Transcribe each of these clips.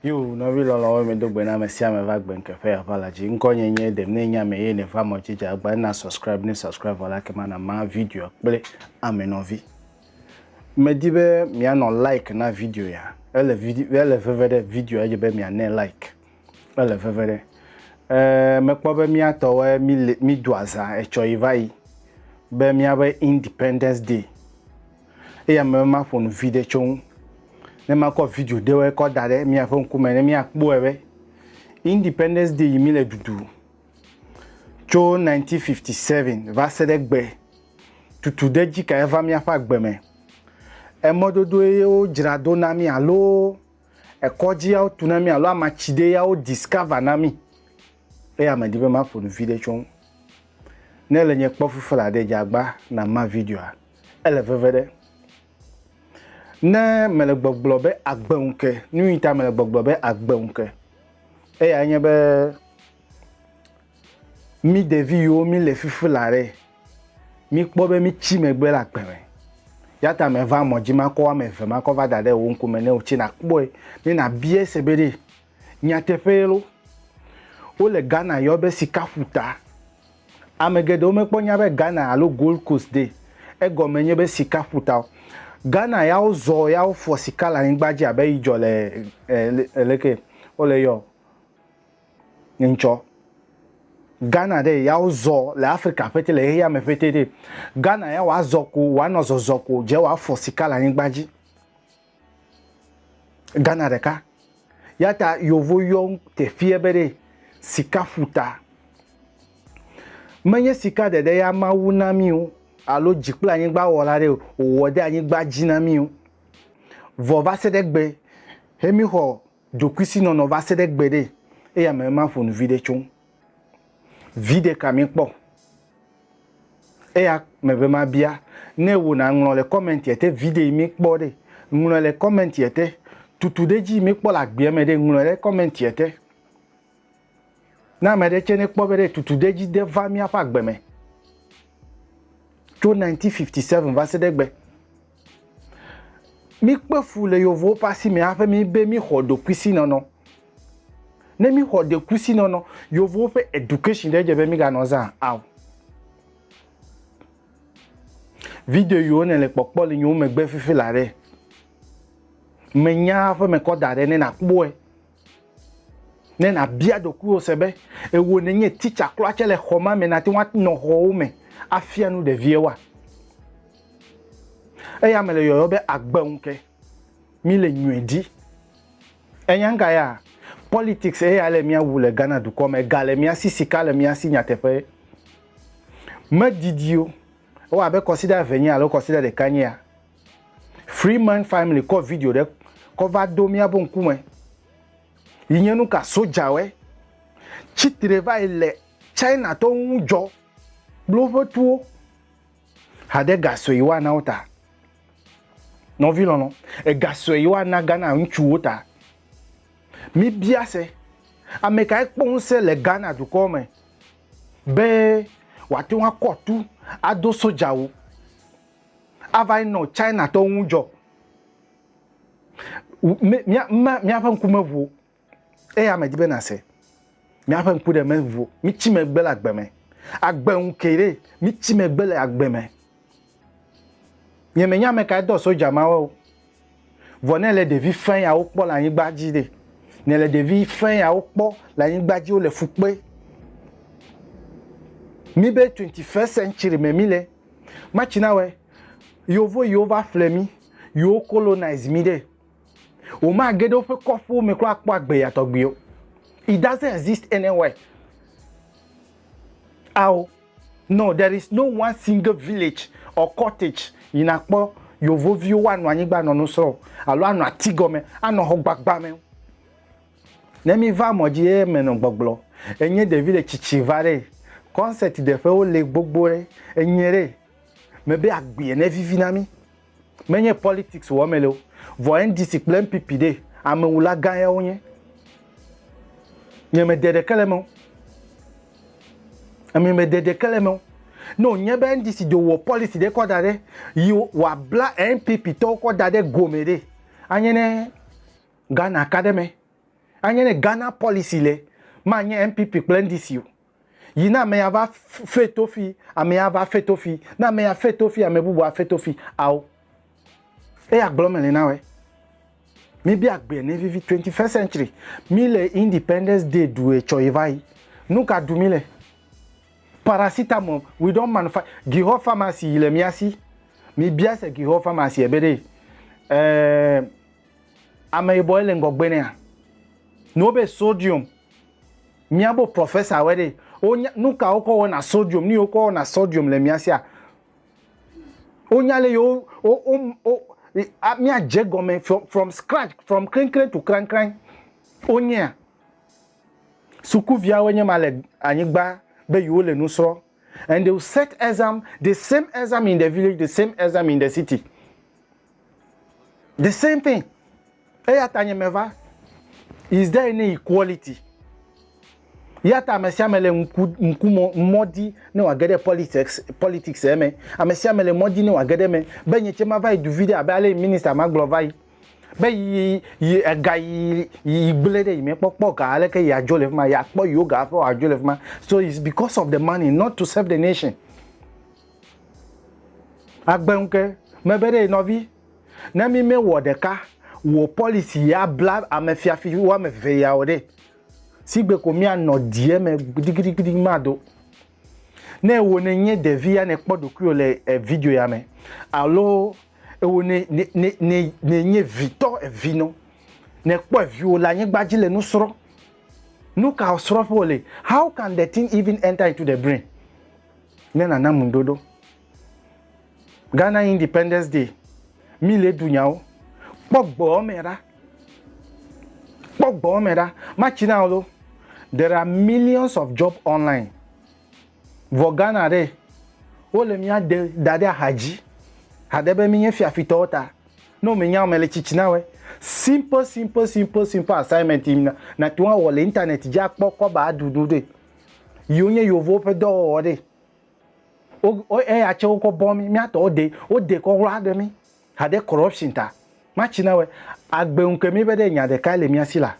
Yo, nɔvi lɔlɔwo mi do gbe na ame sia ame va gbe nke ƒe aʋa la dzi. Ŋkɔ nye nye dem ne nya me ye ne va mɔ dzi dza gba na subscribe ne subscribe vɔ la kema na ma video kple ame nɔvi. Me di be mia nɔ like na video ya. Ele video ele veve ɖe video edzi be mia ne like. ele veve ɖe. Eee mekpɔ be mía tɔwoe míle mído azã etsɔ yi va yi be míaƒe Independence Day. Eya me be maƒo nu viɖe tso ŋu. Ne makɔ video ɖewoe kɔ da ɖe míaƒe ŋkume ne míakpɔe be Independence Day yi míle ɖuɖu tso 1957 va se ɖe gbe tutu ɖe dzi kae va míaƒe agbe me. Emɔdodoe ye wodzra do na mí alo ekɔdziawo tu na mí alo amatsidee ya wo discover na mí. Eya medi be maƒo nu viɖe tso ŋu. Ne le nye kpɔ fufu la ɖe dzagba na ma videoa. Ele veve ɖe. Ne mele gbɔgblɔ be agbe ŋu ke, nu yi ta mele gbɔgblɔ be agbe ŋu ke, eyae nye be Mí ɖevi yiwo mí le fifi la ɖe, mí kpɔ be mí tsi megbe le agbe me. Ya ta me va mɔ dzi ma kɔ ame eve ma kɔ va da ɖe wò ŋku me ne wò tse na kpɔe ne na bia se be ɖe nyateƒe ye lo. Wo le Ghana yɔ be sika ƒuta. Ame geɖewo me kpɔ nya be Ghana alo Gold Coast ɖe egɔme nye be sika ƒuta o. Ghana ya wo zɔ ya wo fɔ sika le anyigba dzi abe yi dzɔ le e e leke wo le yɔ. Ŋtsɔ Ghana ɖe ya wo zɔ le Afrika ƒete le xexea me ƒete ɖe. Ghana ya wa zɔ ko wa nɔ zɔzɔ ko je wa fɔ sika le anyigba dzi. Ghana ɖeka. Ya ta yovo yɔ tefie be ɖe sika ƒuta. Menye sika ɖeɖe ya Mawu na mi o alo dzi kple anyigba wɔla ɖe o wɔ ɖe anyigba dzi na mi o. Vɔ va se ɖe gbe he mi xɔ Ɖokuisinɔnɔ va se ɖe gbeɖe eye ame ema ƒo nu viɖe tso ŋu. Viɖe ka míekpɔ? Eya megbe mabia ne wò nàŋlɔ le kɔmɛntia te viɖe yi míekpɔ ɖe. Ŋlɔe le kɔmɛntia te. Tutuɖedzi yi míekpɔ le agbeame ɖe, ŋlɔe ɖe kɔmɛntia te. Ne ame ɖe tsɛ nekpɔ be ɖe tutu ɖe dzi de va míaƒe agbe me tso 1957 va se ɖe egbe. Míkpe fu le yevuwo ƒe asi me hafi mí be míxɔ ɖokuisinɔnɔ. Ne míxɔ ɖekuisinɔnɔ, yevuwo ƒe education ɖe dze be míganɔ zã ao. Video yiwo nèle kpɔkpɔ le nyewo megbe fifi la ɖe, menya eƒe mekɔ da ɖe ne nàkpɔe. Ne nàbia ɖokuiwò se be ewò nènye titsa klɔa tsɛ le xɔ ma me nàte ŋu anɔ xɔwo me afia nu ɖeviɛwoa? Eya mele yɔyɔ be agbe ŋu ke mí le nyɔe di. Ènya ŋka ya? Politics eya le mía wu le Ghana dukɔ me. Ga le mía si, sika le mía si nyateƒee. Medidi o, ewa abe kɔsiɖa eve nye alo kɔsiɖa ɖeka nye ya. Free Man Family kɔ video ɖe kɔ va do míaƒe ŋkume yi nye nu ka sodzawe tsitre va yi le China tɔ ŋu dzɔ kple woƒe tuwo haɖe ga sue yi woana wo ta. Nɔvi lɔlɔ, ega sue yi woana Ghana ŋutsuwo ta. Mi bia se, ame kae kpɔ ŋusẽ le Ghana dukɔ me be wòate ŋu akɔ tu ado sodzawu? ava yi nɔ China tɔwo ŋu dzɔ. Míaƒe ŋku meʋu o, eya medi be nàse. Míaƒe ŋku ɖe meʋu o, mítsi megbe le agbe me. Agbe ŋu ke ɖe, mítsi megbe le agbe me. Nyemenya ame kae dɔ soja mawo o. Vɔ ne èle ɖevi fɛ̃ yawo kpɔ le anyigba dzi ɖe? Nèle ɖevi fɛ̃ yawo kpɔ le anyigba dzi wole fu kpe. Mi be twenty first century me mi le. Matsi na wɛ. Yovo yiwo va ƒle mi, yiwo colonize mi ɖe. Womage ɖe woƒe kɔƒewo me kura akpɔ agbe ya tɔgbi o. It doesn't exist anywhere. Ao. No there is no one single village or cottage yi na kpɔ yovo viwo wa nɔ anyigba nɔ nu srɔ o alo anɔ ati gɔme anɔ xɔ gbagba me o ne mi va mɔ dzi eye me nɔ gbɔgblɔ enye ɖevi le tsitsi va ɖe concert ɖeƒe wo le gbogbo ɖe enye ɖe me be agbea ne vivi na mi Menye politics wɔ me le o. Vɔ NDC kple NPP ɖe, amewula gã ya wo nye. Nye me de ɖeke le me o. Ame me de ɖeke le me o. Ne wònye be NDC do wɔ policy ɖe kɔ da ɖe, yi wòa bla NPP tɔwo kɔ da ɖe gome ɖe, anye ne Ghana ka ɖe me. Anye ne Ghana policy le, ma nye NPP kple NDC o. Yi na amea va fe tofi, amea va fe tofi, na amea fe tofi, ame bubu afe tofi, ao. Eya gblɔ mele na we. Mi bi agbe ne vivi 21st century. Mi le Independence Day du e chɔ yi va yi. Nu ka du mi le? Paracetamol, we don't manufacture. Gihɔ pharmacy yi le mia si. Mi bia se Gihɔ pharmacy ebe ɖe. Eh, ame yibɔ ele ŋgɔgbe nea. Nuwo be sodium, Miabo professor wɛ ɖe. Wonya nuka wokɔ wɔna sodium, nuyi wokɔ wɔna sodium le mia sia. Wonya le yewo wo wo wo a mia dze gɔme from from scratch from kreŋkreŋ to kraŋkraŋ. Wonyea? Sukuviawoe nye ma le anyigba be yewo le nu srɔ. and they will set exam, the same exam in the village, the same exam in the city. The same thing. Eya ta nye meva, is there any equality? Ya ta ame sia ame le ŋku mɔ di ne wòage ɖe politics politics eme. Ame sia ame le mɔ di ne wòage ɖe eme be nye tse mava yi du vi ɖe abe ale minista ma gblɔ va yi. be yi yi ega yi yi gblẽ ɖe yi me kpɔ kpɔ ga aleke yi adzo le fi ma yi akpɔ yiwo ga hafi woadzo le fi ma so it's because of the money not to serve the nation agbe ŋu ke mebe ɖe nɔvi ne mi mewɔ ɖeka wò policy ya bla ame fiafi woame eve ya o ɖe sigbe ko mianɔ die me gbidigidigidi mado Ne ewɔ ne nye ɖevi ya ne kpɔ ɖokuiwò le video ya me alo ewɔ ne ne nye vitɔ evi nɔ ne kpɔ eviwo le anyigba dzi le nu srɔ̃ nu ka srɔ̃ƒe wòle how can the thing even enter into the brain ne nana mu ɖoɖo Ghana Independence Day, mi le ɖu nyawo. Kpɔ gbɔɔ me ɖa. Kpɔ gbɔɔ me ɖa. Matsi na wo There are millions of job online. Vɔ Ghana ɖe, wole mía de da ɖe axa dzi. Haɖe be mi nye fiafitɔwo ta. Ne wo me nya me le tsitsi na we. Simple, simple, simple, simple assignment yi na, na tun awɔ le internet dzi akpɔ kɔba aɖu nu ɖe. Yi wonye yovowo ƒe dɔwɔwɔ ɖe. wo eya tse wokɔ bɔ mí mía tɔwo de wo de kɔ wla ɖe mí ha ɖe corruption ta ma tsi na wɛ agbe ŋu ke mí be ɖe nya ɖeka le mía si la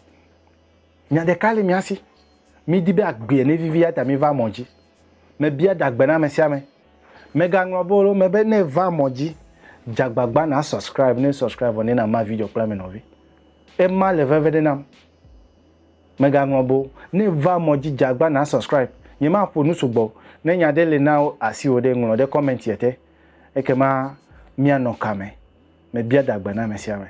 nya ɖeka le mía si mí di be agbea ne vivi ya ta mí va mɔ dzi me bia dagbe na ame sia ame me ga ŋlɔ be wo me be ne va mɔ dzi dze agbagba na subscribe ne subscribe vɔ ne na ma video kple ame nɔvi ema le veve ɖe nam. Megaŋlɔ be o. Ne va mɔ dzi dzagbã na subscribe. Nye ma ƒo nu sugbɔ o. Ne nya ɖe le na asi wò ɖe, ŋlɔ ɖe comment yɛ te. Ekema mia nɔ ka me? Me bia da gbe na ame sia ame.